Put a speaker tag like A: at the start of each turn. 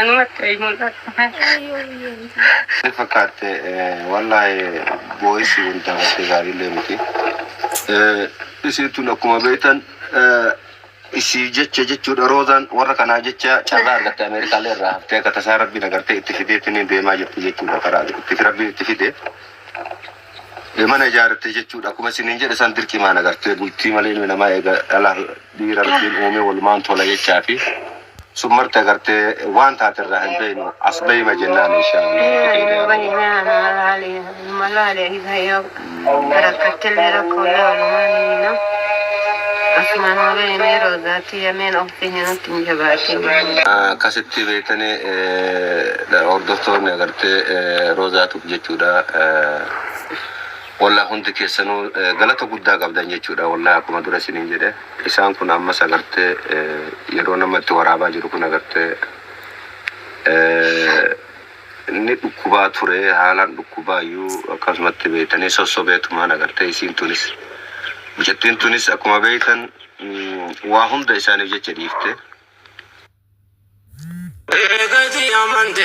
A: Anumatti mul'ata. Ni
B: fakkaatte wallahi boo'isi kun taphattee gaariillee miti. Isiin tun akkuma beektan isii jecha jechuudha roozaan warra kanaa jecha carraa argatte Ameerikaalee irraa haftee akka tasaa rabbiin agartee itti fideetti ni deemaa jirti jechuudha karaa itti rabbiin itti fide. Ee mana ijaarratte jechuudha akkuma isiniin jedhe san dirqimaan agartee bultii malee ilmi namaa eega dhala dhiira rabbiin uumee walumaan tola jechaa fi sun marti agartee waan taate irraa hin beeknu as beeyma jennaan akkasitti beektanii hordoftoonni agartee roozaatu jechuudha wallah hundi keessanu galata guddaa qabdan jechuudha wallah akkuma dura isinin jedhe isaan kun ammas agarte yeroo nama itti waraabaa jiru kun agarte inni dhukkubaa ture haalaan dhukkubaayyuu akkasumatti beeytanii sossobeetumaan agarte isiin tunis mucattiin tunis akkuma beeytan waa hunda isaaniif jecha dhiifte Eegati amante.